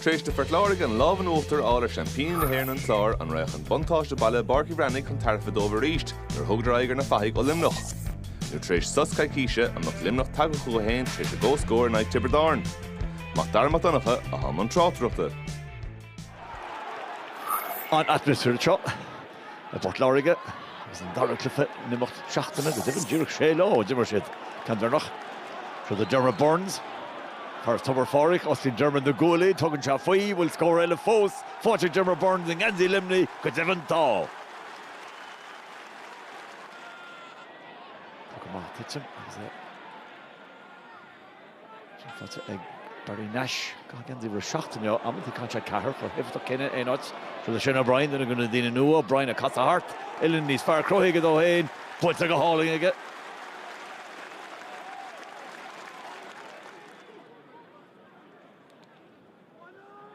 Tar éis do Phort Láirge an lámh in uachtar a fháil ar seaimpíní na hÉireann an Clár, an raibh an buntáiste baile i bPáirc Uí Bhreathnaigh chun tairbhe dóibh arís nuair a thugadar aghaidh ar na fathaigh ó Luimneach? Nó tar éis sos coicíse, an mbeadh Luimneach tagtha chucu féin tar éis a gcomhscóir in aghaidh Tiobraid Árann? Mac Dara Mac Donncha, i mbun na tráchtaireachta. An t-atmaisféar seo. i bPort Láirge agus an dara cluiche in imeacht seachtaine, go deimhin díreach sé lá ó d'imir siad ceann deireanach. Siúd é Diarmaid Byrnes, fear as Tobar Phádraig, osclaíonn Diarmaid na guaillí, tugann sé faoi, bhfuil scór eile fós faighte ag Diarmaid Byrnes i ngeansaí Luimnigh, go deimhin tá! Puc amach, titim agus é. Sin faighte ag Barry Nash. Geansaí uimhir a seacht inniu, amantaí caitheann sé ceathair, chomh héifeachtach céanna in aon áit. Siúd é Shane O'Brien, duine den chúpla duine nua, O'Brien ag casadh thart, uillinn níos fearr cruthaithe aige dó féin, buailte go hálainn aige.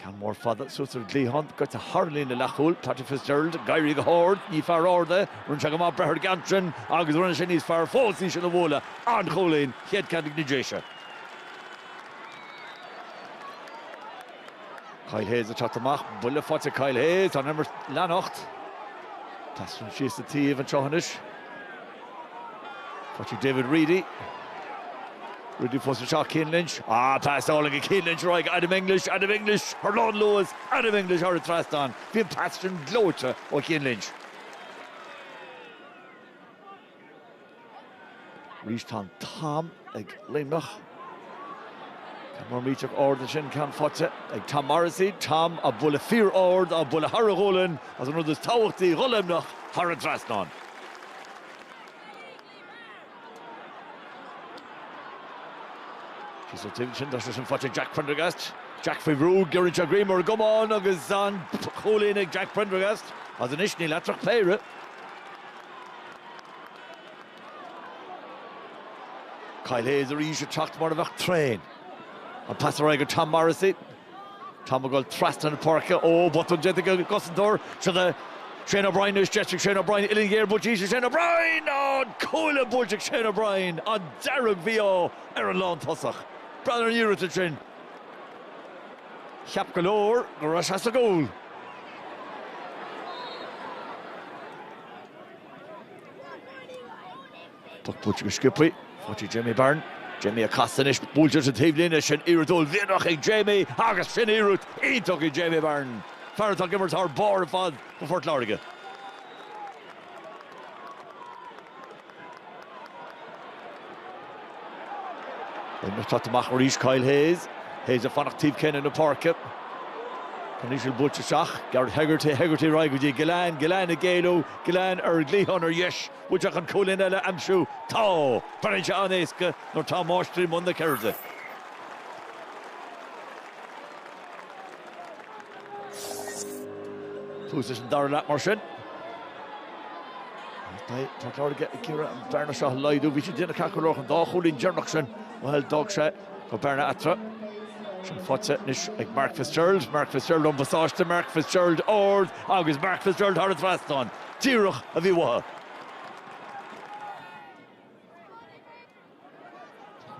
Ceann mór fada suas ar an gcliathán, go dtarlaíonn a leath cúl, Patrick Fitzgerald, ag éirí go hard, ní fear ard é, rinne sé go maith breith ar an gceann sin agus rinne sé níos fearr fós í sin a bhualadh, an-chúilín, chéad ceann ag na Déise. Kyle Hayes ag teacht amach, buille faighte ag Kyle Hayes, tá an imirt ag leanacht. Tá sé ag rith síos an taobh anseo anois. Faighte ag David Reidy. Reidy fós isteach Cian Lynch. Ah, pas álainn ag Cian Lynch ar aghaidh Adam English. Adam English ar lánluas. Adam English thar an trasnán. Bhí an pas sin gleoite ó Chian Lynch. Arís tá an t-am ag Luimneach. Tá, mar imíonn sé ard ansin ceann faighte ag Tom Morrissey, Tom á bualadh fíor ard, á bualadh thar a ghualainn is an rud is tábhachtaí do Luimneach thar an trasnán. Síos an taobh ansin, tá sé sin faighte ag Jack Prendergast, Jack faoi bhrú, giorraíonn sé greim ar an gcamán agus an-chúilín ag Jack Prendergast, is anois níl eatarthu ach péire. Kyle Hayes arís ag teacht mar a bheadh traein. An pas ar aghaidh go Tom Morrissey. Tom ag dul trasna na páirce. Ó, botún déanta ag an gcosantóir. Siúd é Shane O'Brien anois. Deis ag Shane O'Brien uillinn ghéar buailte arís ag Shane O'Brien. Ó, an cuaille buailte ag Shane O'Brien. An dearg-mhí-ádh ar an lántosach. Breathnaigh ar an iarracht ansin. Cheap go leor go raibh sé sa gcúl. Poc buailte go sciobthaí, faighte ag Jamie Barron. Jamie ag casadh anois, buailte ón taobhlíne, sin iarracht uaillmhianach ag Jamie agus sin iarracht iontach ag Jamie Barron, fear atá ag imirt thar barr ar fad do Phort Láirge. Luimneach ag teacht amach arís Kyle Hayes. Hayes ag fanacht taobh céanna páirce. Ceann íseal buailte isteach. Gearóid Hegarty, Hegarty ar aghaidh go dtí Gillane, Gillane ag éalú, Gillane ar an gcliathán ar dheis. Bhfuil tuilleadh cúilín eile aimsiú? Tá! Breathnaíonn sé an-éasca nuair atá máistrí i mbun na ceirde. Tús sa dara leath mar sin. Port Láirge ag iarraidh an bhearna seo a laghdú. Bhí sé déanta ceart go leor an dá chúilín deireanach sin bhuel d'fhág sé go bearna eatarthu. Sin faighte anois ag Mark Fitzgerald. Mark Fitzgerald an phasáiste, Mark Fitzgerald ard agus Mark Fitzgerald thar an trasnán. Díreach a bhí uathu.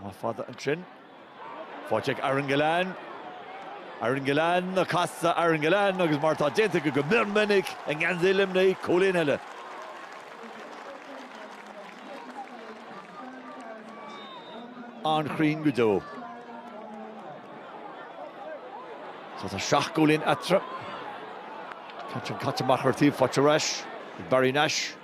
Meá fada ansin. Faighte ag Aaron Gillane. Aaron Gillane ag casadh. Aaron Gillane agus mar atá déanta aige go mion minic i ngeansaí Luimnigh, cúilín eile. An-chruinn go deo. So tá seacht gcúilín eatarthu. Ceann caite amach ar taobh, faighte ar ais ag Barry Nash.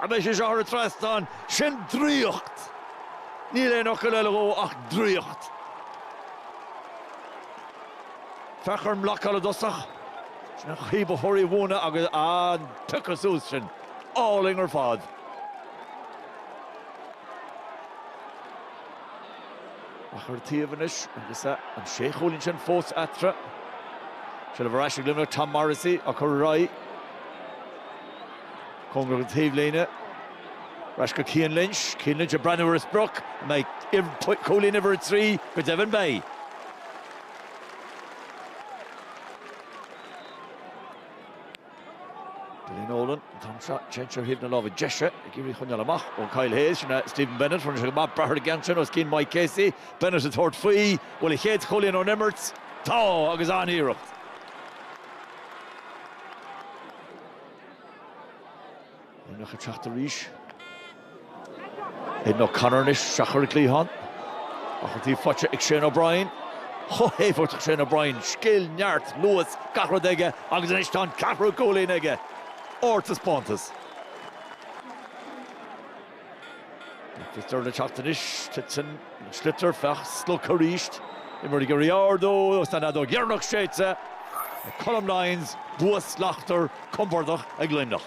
An mbeidh sé seo thar an trasnán, sin draíocht! Níl aon fhocal eile dó ach draíocht. Féach ar an mblocáil i dtosach, sin an chaoi ba chóir í a mhúineadh agus, á, an piocadh suas sin, álainn ar fad. Amach ar taobh anois agus an sé chúilín sin fós eatarthu. Seilbh ar ais ag Luimneach, Tom Morrissey á cur ar aghaidh. Cóngarach don taobhlíne. Ar ais go Cian Lynch. Cian Lynch ag breathnú ar a sprioc, an mbeidh cúilín uimhir a trí? Go deimhin beidh. Billy Nolan, ceann seo, ceann seo ar thaobh na láimhe deise ag iarraidh a choinneáil amach ó Kyle Hayes. Sin é Stephen Bennett, rinne sé go maith breith ar an gceann sin os cionn Mike Casey. Bennett ag tabhairt faoi, bhfuil a chéad chúilín ón imirt? Tá! Agus an-iarracht! Luimneach ag teacht arís. Aidan O'Connor anois isteach ar an gcliathán. Á chur dtí, faighte ag Shane O'Brien. Chomh héifeachtach Shane O'Brien. Scil, neart, luas, gach rud aige agus anois tá an ceathrú cúilín aige! Ardtaispeántas. Sliotar le teacht anois. Titeann an sliotar. Fear slogtha arís. Imreoir ag iarraidh ardú agus tá an fheadóg dheireanach séidte ag Colm Lyons, bua slachtmhar, compordach ag Luimneach.